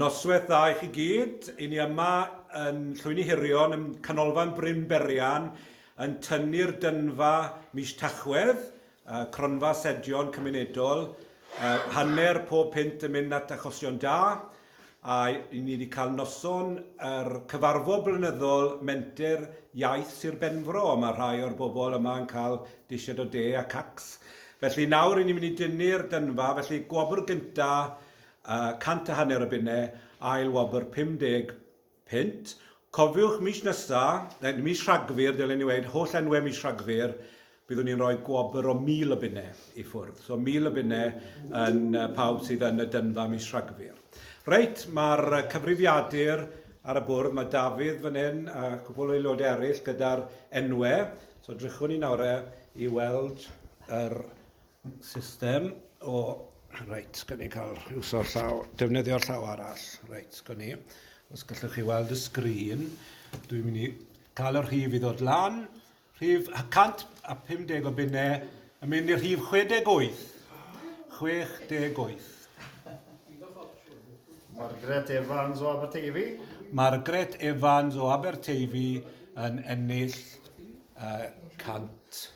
Noswaith dda i chi gyd. I ni yma yn Llwyni Hirion, yn Canolfan Bryn Berian, yn tynnu'r dynfa mis Tachwedd, uh, cronfa sedion cymunedol, uh, hanner pob pynt yn mynd at achosion da, A y'n ni 'di cael noson yr cyfarfod blynyddol Menter Iaith Sir Benfro, a mae rhai o'r bobl yma yn cael disied o de a cacs. Felly nawr y'n ni'n mynd i dynnu'r dynfa, felly gwobr gynta uh, cant a hanner o bunne, ail wobr 50 punt, Cofiwch mis nesa, neu mis Rhagfyr dylen i weud, holl enwe mis Rhagfyr, byddwn ni'n rhoi gwobr o 1,000 o bunne i ffwrdd. So 1,000 o bunne yn pawb sydd yn y dynfa mis Rhagfyr. Reit, mae'r cyfrifiadur ar y bwrdd, mae Dafydd fan hyn a cwpl o aelodau eraill gyda'r enwe. So drychwn ni nawr e i weld yr System o... Reit, gan i cael iwso llaw, defnyddio'r llaw arall. Reit, gan i. Os gallwch chi weld y sgrin, dwi'n mynd i cael y rhif i ddod lan. Rhif 150 o bunnau yn mynd i'r rhif 68. 68. Margaret Evans o Aberteifi. Margaret Evans o Aberteifi yn ennill uh, 100.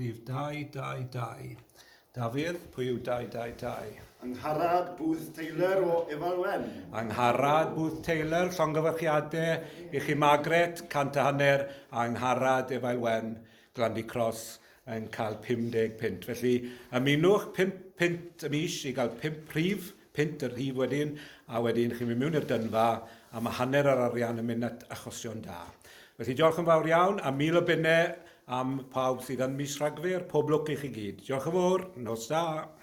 Rhif dau, dau, dau. Dafydd, pwy yw dau, dau, dau? Angharad Booth Taylor o Efalwen. Angharad Booth Taylor, llongyfarchiadau i chi Margaret, cant a hanner, Angharad Efalwen, Glandy Cross, yn cael 50 punt. Felly ymunwch 5 punt y mis i gael 5 rhif punt y rhif wedyn, a wedyn chi'n mynd mewn i'r dynfa, a mae hanner yr arian yn mynd at achosion da. Felly diolch yn fawr iawn, a mil o bunnau am pawb sydd yn mis Rhagfyr, pob lwc i chi gyd. Diolch yn fawr, nos da!